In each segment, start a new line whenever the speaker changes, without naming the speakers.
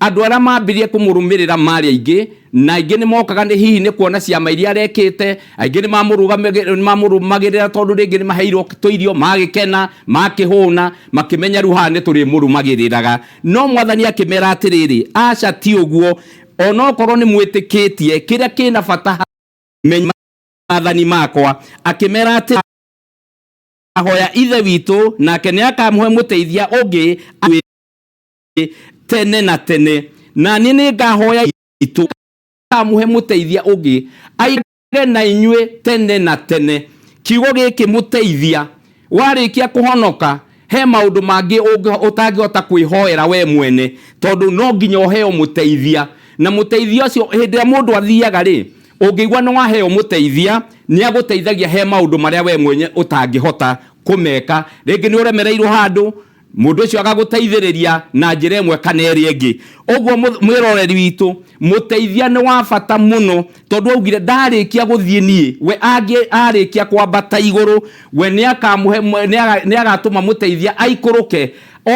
Andũ arĩa maambirie kũmũrũmĩrĩra maarĩ aingĩ, na aingĩ nĩ mookaga nĩ hihi nĩ kuona ciama iria arekĩte. Aingĩ nĩ maamũrũmagĩrĩra tondũ rĩngĩ nĩ maheirwo tũirio, magĩkena, makĩhũna, makĩmenya rĩu haha nĩ tũrĩmũrũmagĩrĩraga. No Mwathani akĩmeera atĩrĩrĩ, Aca ti ũguo! O na okorwo nĩ mwĩtĩkĩtie, kĩrĩa kĩ na bata harĩ inyuĩ nĩ maathani makwa. Akĩmeera atĩrĩ, Akaahoya Ithe witũ, nake nĩ akaamũhe mũteithia ũngĩ amwĩre ũrĩa mũbatiĩ gwĩka. rĩngĩ tene na tene na niĩ nĩ ngahoya itũ kamuhe mũteithia ũngĩ aigage na inyuĩ tene na tene kiugo gĩkĩ mũteithia warĩkia kũhonoka he maũndũ mangĩ ũngĩ- ũtangĩhota kwĩhoera we mwene tondũ no nginya ũheo mũteithia na mũteithia ũcio hĩndĩ ĩrĩa mũndũ athiaga rĩ ũngĩigua nĩ waheo mũteithia nĩ agũteithagia he maũndũ marĩa we mwenye ũtangĩhota kũmeka rĩngĩ nĩ ũremereirwo handũ Mũndũ ũcio agagũteithĩrĩria na njĩra ĩmwe kana ĩrĩa ĩngĩ. Ũguo mwĩroreri witũ, mũteithia nĩ wa bata mũno tondũ augire ndarĩkia gũthiĩ niĩ, we angĩ arĩkia kwambata igũrũ, we nĩ akamũhe nĩ agatũma mũteithia aikũrũke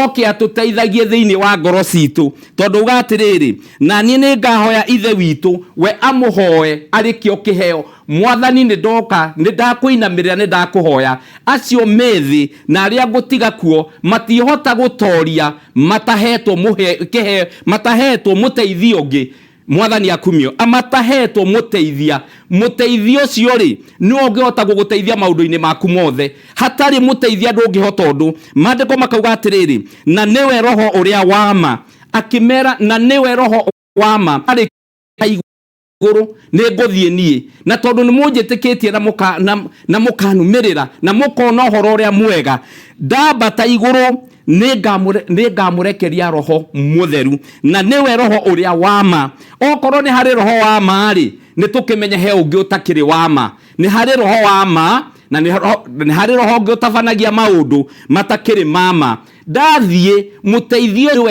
oke atũteithagie thĩinĩ wa ngoro citũ. Tondũ uga atĩrĩrĩ, na niĩ nĩ ngahoya Ithe witũ, we amũhoe arĩ kĩo kĩheo, Mwathani, nĩ ndoka, nĩ ndakũinamĩrĩra, nĩ ndakũhoya. Acio me thĩ na arĩa ngũtiga kuo matiĩhota gũtooria mataheetwo mũhe, kĩhe, mataheetwo mũteithia ũngĩ. Mwathani akumio, amataheetwo mũteithia. Mũteithia ũcio-rĩ, nĩwe ũngĩhota gũgũteithia maũndũ-inĩ maku mothe. Hatarĩ mũteithia ndũngĩhota ũndũ. Maandĩko makauga atĩrĩrĩ, Na nĩwe Roho ũrĩa wa ma. Akĩmeera, Na nĩwe Roho wa ma. Arĩ kaigũrũrũinĩ. igũrũ nĩ ngũthiĩ niĩ na tondũ nĩ mũnjĩtĩkĩtie na mũka- na- na mũkanumĩrĩra na mũkona ũhoro ũrĩa mwega ndambata igũrũ nĩ ngamũre- nĩ ngamũrekeria roho mũtheru na nĩwe roho ũrĩa wa ma okorwo nĩ harĩ roho wa ma-rĩ nĩ tũkĩmenye he ũngĩ ũtakĩrĩ wa ma nĩ harĩ roho wa ma na nĩ roho- nĩ harĩ roho ũngĩ ũtabanagia maũndũ matakĩrĩ ma ma ndathiĩ mũteithio ũyũ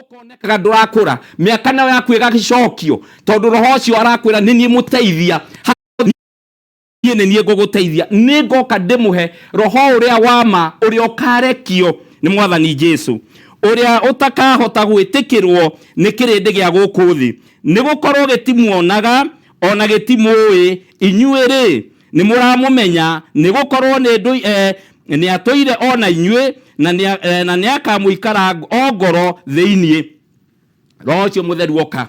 ũkonekaga ndũrakũra mĩaka nayo yaku ĩgagĩcokio tondũ roho ũcio arakwĩra nĩ niĩ mũteithia niĩ nĩ niĩ ngũgũteithia nĩ ngoka ndĩmũhe roho ũrĩa wa ma ũrĩa ũkarekio nĩ mwathani jesu ũrĩa ũtakahota gwĩtĩkĩrwo nĩ kĩrĩndĩ gĩa gũkũ thĩ nĩ gũkorwo gĩtimuonaga ona gĩtimũĩ inyuĩ rĩ nĩ mũramũmenya nĩ gũkorwo nĩ ndũ eh, nĩ atũire o na inyuĩ na nĩ a- eh, na nĩ akamũikara o ngoro thĩinĩ roho ũcio mũtheru oka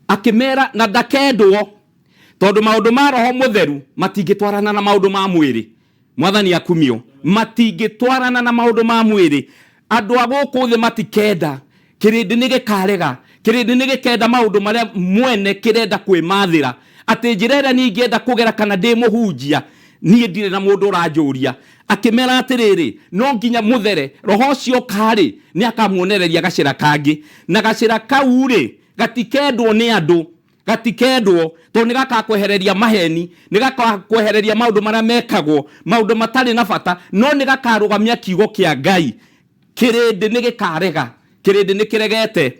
akĩmera na ndakendwo tondũ maũndũ ma roho mũtheru matingĩtwarana na maũndũ ma mwĩrĩ mwathani akumio matingĩtwarana na maũndũ ma mwĩrĩ andũ a gũkũ thĩ matikenda kĩrĩndĩ nĩ gĩkarega kĩrĩndĩ nĩ gĩkenda maũndũ marĩa mwene kĩrenda kwĩmathĩra atĩ njĩra ĩrĩa niĩ ingĩenda kũgera kana ndĩ mũhunjia niĩ ndirĩ na mũndũ ũranjũria akĩmera atĩrĩrĩ no nginya mũthere roho ũcio ũkarĩ nĩ akamuonereria gacĩra kangĩ na gacĩra kau rĩ gatikendwo nĩ andũ gatikendwo tondũ nĩ gakakwehereria maheni nĩ gakakwehereria maũndũ marĩa mekagwo maũndũ matarĩ na bata no nĩ gakarũgamia kiugo kĩa ngai kĩrĩndĩ nĩ gĩkarega kĩrĩndĩ nĩ kĩregete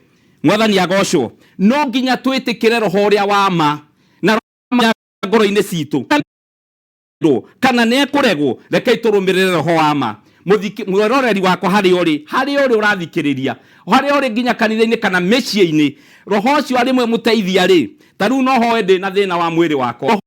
mwathani agocwo no nginya twĩtĩkĩre roho ũrĩa wa ma na roho ngoro-inĩ citũ kana nĩ ekũregwo rekei tũrũmĩrĩre roho wa ma mwĩroreri wakwa harĩa ũrĩ harĩa ũrĩ ũrathikĩrĩria harĩa ũrĩ nginya kanitha-inĩ kana mĩciĩ-inĩ roho ũcio arĩmwe mũteithia rĩ ta rĩu no hoe ndĩ na thĩna wa mwĩrĩ wakwa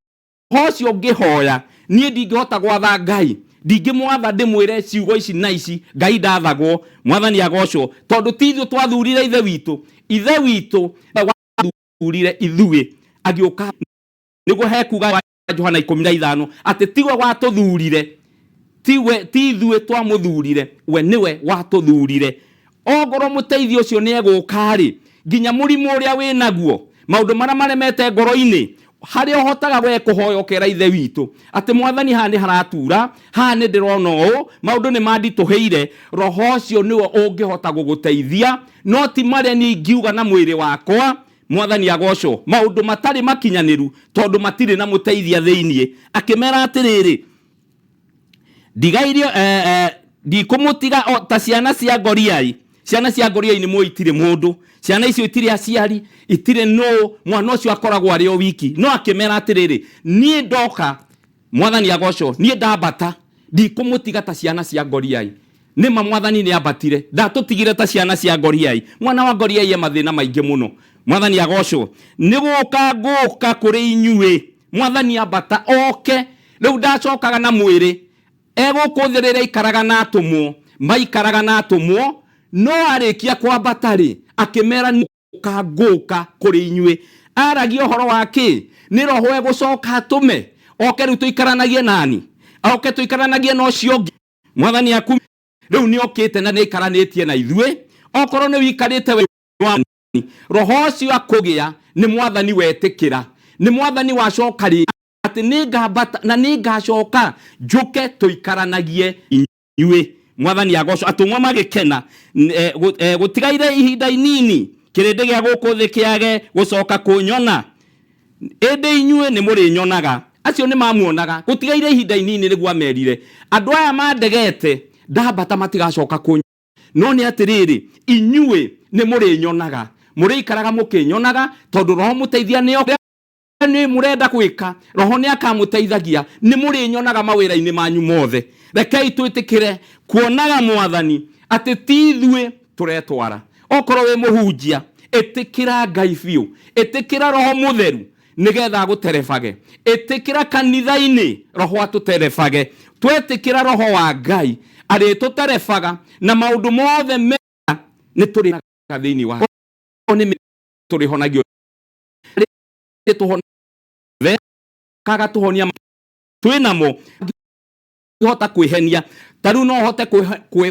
Ũhoro ũcio ngĩhoya, niĩ ndingĩhota gwatha Ngai, ndingĩmwatha ndĩmwĩre ciugo ici na ici, Ngai ndathagwo, Mwathani agocwo, tondũ ti ithuĩ twathurire Ithe witũ, Ithe witũ wathurire ithuĩ, agĩũka nĩguo he kuuga Johana ikũmi na ithano atĩ tiwe watũthurire. Ti we, ti ithuĩ twamũthuurire, we nĩwe watũthuurire. Ongorwo mũteithia ũcio nĩegũũka-rĩ, nginya mũrimũ ũrĩa wĩ naguo, maũndũ marĩa maremete ngoro-inĩ, harĩa ũhotaga we kũhoya ũkera Ithe witũ atĩ, Mwathani haha nĩharatuura, haha nĩndĩrona ũũ, maũndũ nĩmanditũhĩire, Roho ũcio nĩwe ũngĩhota gũgũteithia, no ti marĩa niĩ ingiuga na mwĩrĩ wakwa, Mwathani agoocwo, maũndũ matarĩ makinyanĩru, tondũ matirĩ na mũteithia thĩiniĩ. Akĩmeera atĩrĩrĩ, ndigairio eh, eh, ndikũmũtiga o ta ciana cia ngoriai ciana cia ngoriai nĩ muo itirĩ mũndũ ciana icio itirĩ aciari itirĩ nũ mwana ũcio akoragwo arĩ o wiki no akĩmera atĩrĩrĩ niĩ ndoka mwathani agocwo niĩ ndambata ndikũmũtiga ta ciana cia ngoriai nĩma mwathani nĩ ambatire ndatũtigire ta ciana cia ngoriai mwana wa ngoriai e mathĩna maingĩ mũno mwathani agocwo nĩ gũka ngũka kũrĩ inyuĩ mwathani ambata oke rĩu ndacokaga na mwĩrĩ egũkũ thĩ rĩrĩa aikaraga na atũmwo maikaraga na atũmwo no arĩkia kwambata rĩ akĩmera ngũka ngũka kũrĩ inyuĩ aragia ũhoro wa kĩ nĩ roho egũcoka atũme oke rĩu tũikaranagie nani oke tũikaranagie na ũcio ũngĩ mwathani aku rĩu nĩ okĩte na nĩ aikaranĩtie na ithuĩ okorwo nĩ ũikarĩte we wa- roho ũcio akũgĩa nĩ mwathani wetĩkĩra nĩ mwathani wacoka rĩ atĩ nĩ ngambata na nĩ ngacoka njũke tũikaranagie inyuĩ mwathani agoco atũmwo magĩkena N- eh, gũ- eh, gũtigaire ihinda inini kĩrĩndĩ gĩa gũkũ thĩ kĩage gũcoka kũnyona ĩndĩ inyuĩ nĩ mũrĩnyonaga acio nĩ mamuonaga gũtigaire ihinda inini nĩguo amerire andũ aya mandegete ndambata matigacoka kũnyona no nĩ atĩrĩrĩ inyuĩ nĩ mũrĩnyonaga mũrĩikaraga mũkĩnyonaga tondũ roho mũteithia nĩ oke nĩ mũrenda gwĩka roho nĩ akamũteithagia nĩ mũrĩnyonaga mawĩra-inĩ manyu mothe rekei twĩtĩkĩre kuonaga mwathani atĩ ti ithuĩ tũretwara okorwo wĩ mũhunjia ĩtĩkĩra ngai biũ ĩtĩkĩra roho mũtheru nĩgetha agũterebage ĩtĩkĩra kanitha-inĩ roho atũterebage twetĩkĩra roho wa ngai arĩtũterebaga na maũndũ mothe mega nĩ tũrĩaga thĩinĩ wa Okorwo nĩ mĩ- tũrĩhonagio tũhonakaga tũhonia twĩ namo hota kwĩhenia ta rĩu no ũhote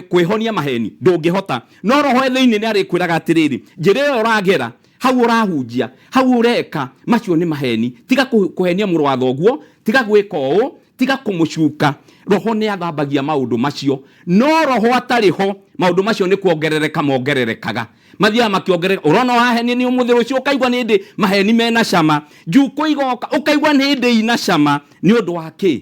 kwĩhonia maheni ndũngĩhota no roho thĩinĩ nĩ arĩkwĩraga atĩrĩrĩ njĩra ĩyo ũragera hau ũrahunjia hau ũreka macio nĩ maheni tiga kũhenia mũrũ wa thoguo tiga gwĩka ũũ tiga kũmũcuka roho nĩ athambagia maũndũ macio no roho atarĩ ho maũndũ macio nĩ kuongerereka mongererekaga mathiaga makĩongerereka ũrona ũrahenia nĩ ũmũthĩ rũciũ ũkaigua nĩ ndĩ maheni mena cama njukũ igoka ũkaigua nĩ ndĩ ina cama nĩ ũndũ wa kĩ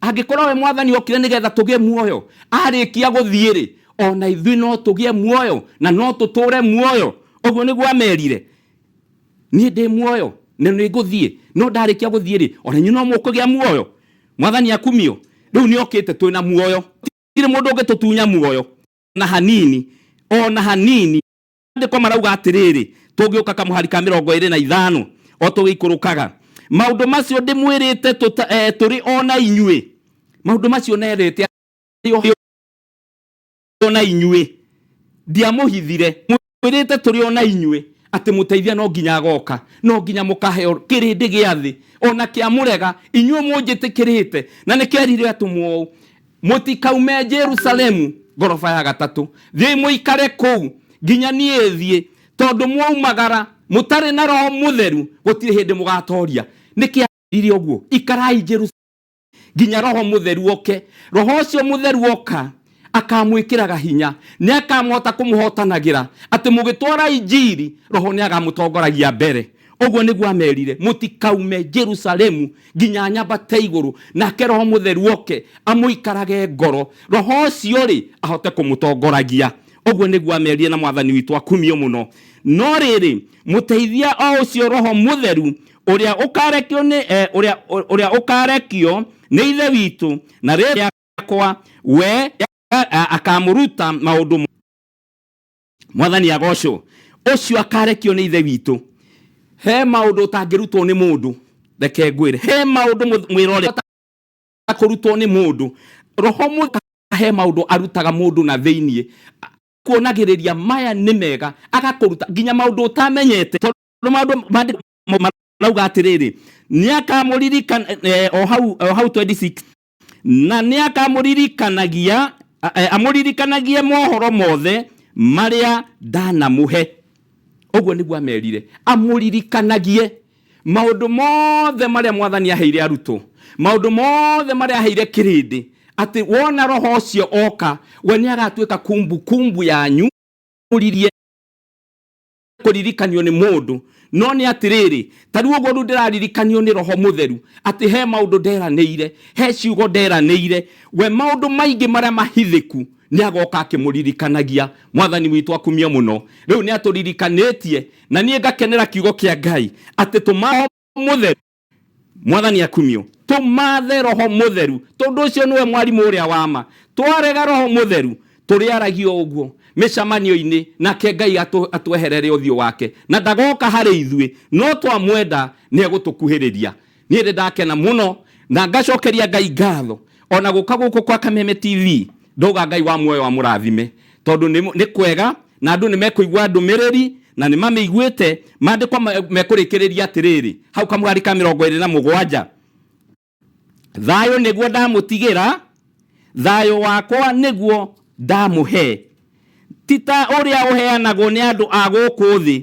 angĩkorwo we mwathani okire nĩgetha tũgĩe muoyo arĩkia gũthiĩ rĩ ona ithuĩ no tũgĩe muoyo na no tũtũre muoyo ũguo nĩguo amerire niĩ ndĩ muoyo na nĩ ngũthiĩ no ndarĩkia gũthiĩ rĩ ona inyuĩ no mũkũgĩa muoyo mwathani akumio rĩu nĩ okĩte twĩ na muoyo tirĩ mũndũ ũngĩtũtunya muoyo na hanini ona hanini maandĩko marauga atĩrĩrĩ tũngĩũka kamũhari ka mĩrongo ĩrĩ na ithano o tũgĩikũrũkaga maũndũ macio ndĩmwĩrĩte tũta- eh, tũrĩ o na inyuĩ maũndũ macio nerĩte arĩ o- o na inyuĩ ndiamũhithire mwĩrĩte tũrĩ o na inyuĩ atĩ mũteithia no nginya agoka no nginya mũkaheo kĩrĩndĩ gĩa thĩ ona kĩamũrega inyuĩ mũnjĩtĩkĩrĩte na nĩkerire atũmwo ũũ Mũtikaume Jerusalemu ngoroba ya gatatũ, thiĩi mũikare kũu nginya niĩ thiĩ, tondũ mwaumagara mũtarĩ na Roho Mũtheru gũtirĩ hĩndĩ mũgatooria. Nĩkĩ aamwĩrire ũguo? Ikarai Jerusalemu nginya Roho Mũtheru oke. Roho ũcio Mũtheru oka akamwĩkĩraga hinya, nĩakamũhota kũmũhotanagĩra, atĩ mũgĩtwara injiri, Roho nĩagamũtongoragia mbere. ũguo nĩguo amerire mũtikaume jerusalemu nginya nyambate igũrũ nake roho mũtheru oke amũikarage ngoro roho ũcio rĩ ahote kũmũtongoragia ũguo nĩguo amerire na mwathani witũ akumio mũno no rĩrĩ mũteithia o ũcio roho mũtheru ũrĩa ũkarekio nĩ eh, ũrĩa ũrĩa ũkarekio nĩ ithe witũ na rĩrĩa kwa we a- akamũruta maũndũ mwathani agocwo ũcio akarekio nĩ ithe witũ he maũndũ ũtangĩrutwo nĩ mũndũ reke ngwĩre he maũndũ mũ- mwĩrore kũrutwo nĩ mũndũ roho mũka he maũndũ arutaga mũndũ na thĩiniĩ kuonagĩrĩria maya nĩ mega agakũruta nginya maũndũ ũtamenyete tondũ maũndũ mandĩ- ma- marauga atĩrĩrĩ nĩ akamũririkana eh, o hau o hau 26 na nĩ akamũririkanagia a- eh, amũririkanagie mohoro mothe marĩa ndanamũhe ũguo nĩguo amerire amũririkanagie maũndũ mothe marĩa mwathani aheire arutwo maũndũ mothe marĩa aheire kĩrĩndĩ atĩ wona roho ũcio oka we nĩ agatuĩka kumbukumbu yanyu ũririe kũririkanio nĩ mũndũ no nĩ atĩrĩrĩ ta rĩu ũguo rĩu ndĩraririkanio nĩ roho mũtheru atĩ he maũndũ nderanĩire he ciugo nderanĩire we maũndũ maingĩ marĩa mahithĩku nĩ agoka akĩmũririkanagia mwathani witũ akumie mũno rĩu nĩ atũririkanĩtie na niĩ ngakenera kiugo kĩa ngai atĩ tũmaho mũtheru mwathani akumio tumathe roho mutheru tondu ucio niwe mwarimu uria wa ma twarega roho mutheru turiaragio uguo micamanio-ini nake ngai atu- atweherere uthio wake na ndagoka hari ithui no twamwenda ni egutukuhiriria niĩ ndĩ ndakena mũno na ngacokeria ngai ngatho ona gũka gũkũ kwa kameme tv ndauga ngai wa muoyo amũrathime tondũ nĩ- nĩ kwega na andũ nĩ mekũigua ndũmĩrĩri na nĩ mamĩiguĩte maandĩkwa mekũrĩkĩrĩria atĩrĩrĩ hau kamũgari ka mĩrongo ĩrĩ na mũgwanja thayũ nĩguo ndamũtigĩra thayũ wakwa nĩguo ndamũhe ti ta ũrĩa ũheanagwo nĩ andũ a gũkũ thĩ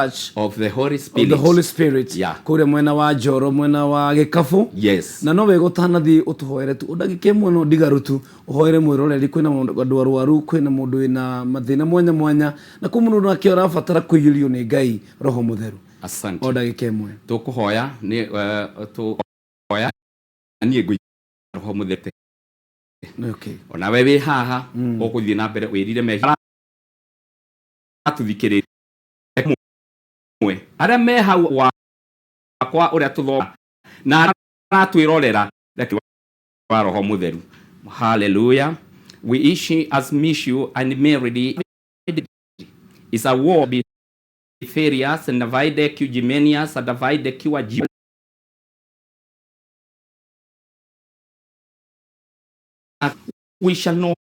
Church of the Holy of Spirit. the
Holy Spirit
Yeah. kũrĩa mwena wa
Njoro
mwena wa Gĩkabũ Yes. na no wega
ũtanathiĩ
ũtũhoere tu ũndagĩke mũno ndigarũ tu ũhoere mwĩroreri kwĩna mũndũ- andũ arwaru kwĩna mũndũ wĩna mathĩna mwanya mwanya na kwĩ mũndũ nake ũrabatara kũiyũrio nĩ ngai roho mũtheru o Asante. ndagĩka
ĩmwe
Tũkũhoya nĩ
eh, tũhoya niĩ ngũi roho mũthete.
okay. Ona we wĩ
haha ũgũthiĩ na mbere wĩrire mehia atũthikĩrĩria mwe arĩa me hau wakwa ũrĩa tũthoma na arĩa maratwĩrorera reke wa roho mũtheru haleluya we ishi as miss you and merely is a war be furious and divide cujimenius and divide kiwa jiwa we shall not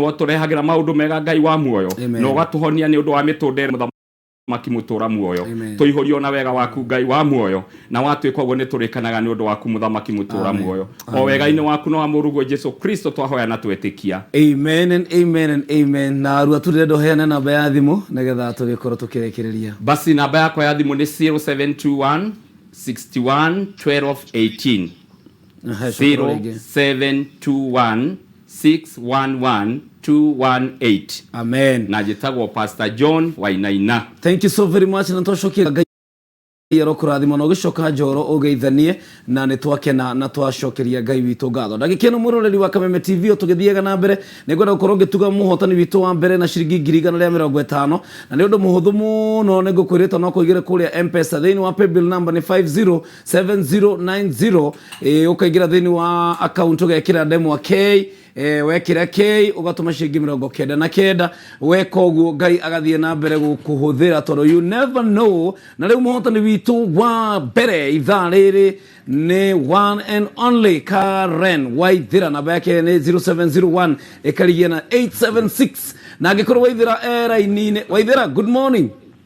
watũrehagĩra maũndũ mega ngai wa muoyo Amen. na ũgatũhonia nĩ
ũndũ wa
mĩtũndĩre mũthamaki mũtũra muoyo Amen. tũihũrio na wega waku ngai wa muoyo na watwĩka ũguo nĩ tũrĩkanaga nĩ ũndũ waku mũthamaki mũtũra Amen. muoyo o Amen. wega-inĩ waku na wa mũruguo jesu kristo twahoya na twetĩkia amen and
amen and amen na arua tu ndĩrenda ũheane namba ya thimũ nĩgetha tũgĩkorwo tũkĩrĩkĩrĩria basi namba yakwa ya
thimũ nĩ 0721 61 12 18 Aha, shukuru wege. 0721611218 amen
najĩtagwo pastor
john wainaina thank you so very much
na twacokera ngai arokũrathima na ũgĩcoka njoro ũgeithanie na nĩ twakena na twacokeria ngai witũ ngatho ndagĩkĩno mũroreri wa kameme tv tũgĩthiaga na mbere nĩ ngwenda gũkorwo ngĩtuga mũhotani witũ wa mbere na ciringi ngiri igana rĩa mĩrongo ĩtano na nĩ ũndũ mũhũthũ mũno nĩ ngũkwĩrĩte no kũigĩre kũrĩa mpesa thĩinĩ wa paybill number nĩ 50 7090 eh, ukaingira thini wa account ugekira ndemwa k eh, wekira k ugatuma ciringi mirongo kenda na kenda weka uguo ngai agathie na mbere gukuhuthira tondu you never know na riu muhotani witu wa mbere ithaa riri ni one and only karen waithira namba yake ni 0701 ikarigia na 876 na angikorwo waithira eraini-ini waithira good morning